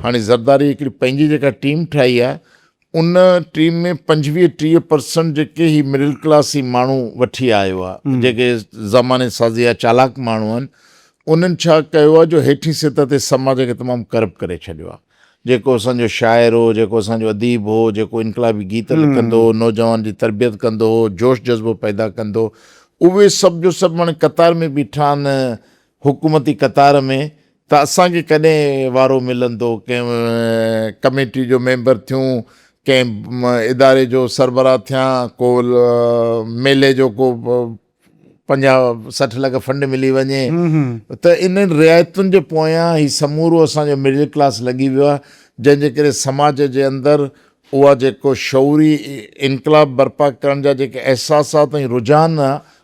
هاڻي زرداري هڪڙي پنهنجي جيڪا ٽيم ٺاهي آ ان ٽيم ۾ پنجويهه ٽيهه پرسنٽ جيڪي هي مڊل ڪلاس هي ماڻهو وٺي آيو آ جيڪي زماني سازي جا چالاڪ ماڻهو آهن انهن ڇا ڪيو آ جو هيٺين سطح تي سماج کي تمام ڪرپٽ ڪري ڇڏيو آ جيڪو اسان جو شاعر هو جيڪو اسان جو اديب هو جيڪو انقلابي گيت لکندو هو نوجوان جي تربيت ڪندو هو جوش جذبو پيدا ڪندو اهي سڀ جو سڀ هاڻي قطار ۾ بيٺا آهن حڪومتي قطار ۾ ته اسان کي ڪڏهن وارو ملندو ڪنهن ڪميٽي جو ميمبر ٿيون، ڪنهن اداري جو سربراهه ٿيان، ڪو ميلي جو ڪو پنجاهه سٺ لک فنڊ ملي وڃي ته انهن رعايتن جي پويان هي سمورو اسان جو مڊل ڪلاس لڳي ويو آهي جنهن جي ڪري سماج جي اندر اها جيڪو شعوري انقلاب برپا ڪرڻ جا جيڪي احساسات ۽ رجحان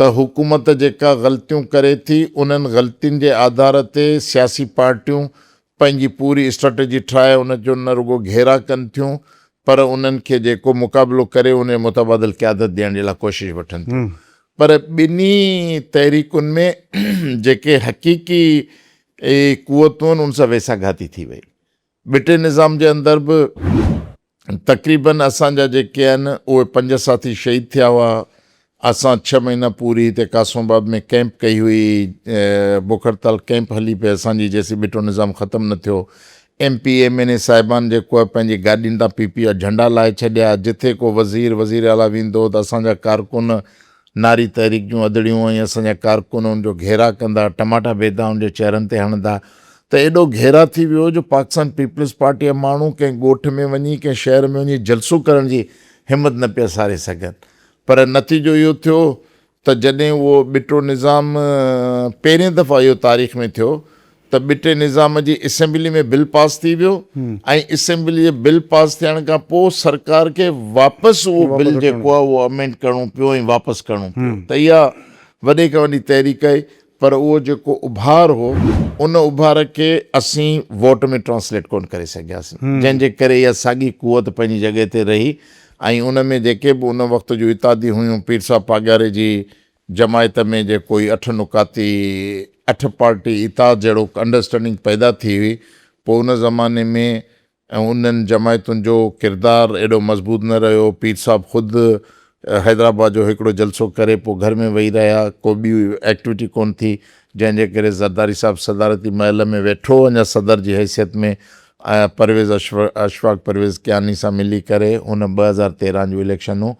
ته حڪومت جيڪا غلطيون ڪري ٿي انهن غلطين جي آڌار تي سياسي پارٽيون پنهنجي پوري اسٽريٽجي ٺاهي ان جو نه رڳو گهيراء ڪن ٿيون پر انهن کي جيڪو مقابلو ڪري انهي متبادل قيادت ڏيڻ جي لاء ڪوشش وٺن ٿيون پر ٻنهي تحريڪن ۾ جيڪي حقيقي قوتون آهن ان سان ويساهه گهاتي ٿي وئي. ٻٽي نظام جي اندر به تقريباً اسان جا جيڪي آهن اهي پنج ساٿي شهيد ٿيا هئا. اسان ڇهه مهينا پوري هتي قاسم آباد ۾ ڪئمپ ڪئي هئي. بکرتال ڪئمپ هلي پئي اسان جي جيسين ٻٽو نظام ختم نه ٿيو. M P M N A صاحبان جيڪو آهي پنهنجي گاڏين تان پي پي جا جهنڊا لاهي ڇڏيا. جتي ڪو وزير وزير اعليٰ ويندو هو ته اسان جا ڪارڪن ناري تحريڪ جون ادڙيون ۽ اسان جا ڪارڪن ان جو گهيراء ڪندا، ٽماٽا بيدا ان جي چهرن تي هڻندا ته ايڏو گهيراء ٿي ويو جو پاڪستان پيپلز پارٽيء جا ماڻهو ڪنهن ڳوٺ ۾ وڃي، ڪنهن شهر ۾ وڃي جلسو ڪرڻ جي همت نه پيا ساري سگهن. پر نتيجو اهو ٿيو ته جڏهن اهو ٻٽو نظام پهرين دفعا اهو تاريخ ۾ ٿيو ته ٻٽي نظام جي اسيمبلي ۾ بل پاس ٿي ويو ۽ اسيمبلي جي بل پاس ٿيڻ کان پوء سرڪار کي واپس اهو بل جيڪو آهي اهو امينڊ ڪرڻو پيو ۽ واپس ڪرڻو پيو ته اها وڏي کان وڏي تحريڪ آهي پر اهو جيڪو اڀار هو ان اڀار کي اسين ووٽ ۾ ٽرانسليٽ ڪونه ڪري سگهياسين جنهن جي ڪري اها ساڳي قوت پنهنجي جڳهه تي رهي ۽ ان ۾ جيڪي به ان وقت جون اتحاديون هيون پير صاحب پاڳياري جي جماعت ۾ جي ڪوئي اٺ نڪاتي اٺ پارٽي اتحاد جهڙوڪ انڊرسٽينڊنگ پيدا ٿي هئي پوء ان زماني ۾ انهن جماعتن جو ڪردار ايڏو مضبوط نه رهيو پير صاحب خود حيدرآباد جو هڪڙو جلسو ڪري پوء گهر ۾ ويهي رهيا ڪو ٻي ايڪٽويٽي ڪونه ٿي جنهن جي ڪري زرداري صاحب صدارتي محل ۾ ويٺو اڃا صدر جي حيثيت ۾ پرويز اشفاق پرويز ڪياني سان ملي ڪري هن ٻه هزار تيرنهن جون اليڪشنون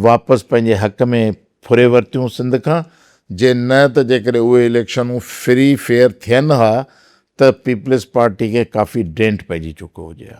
واپس پنهنجي حق ۾ ڦري ورتيون سنڌ کان جي نه ته جيڪڏهن اهي اليڪشنون فري فيئر ٿين ها ته پيپلز پارٽي کي ڪافي ڊينٽ پئجي چڪو هجي ها.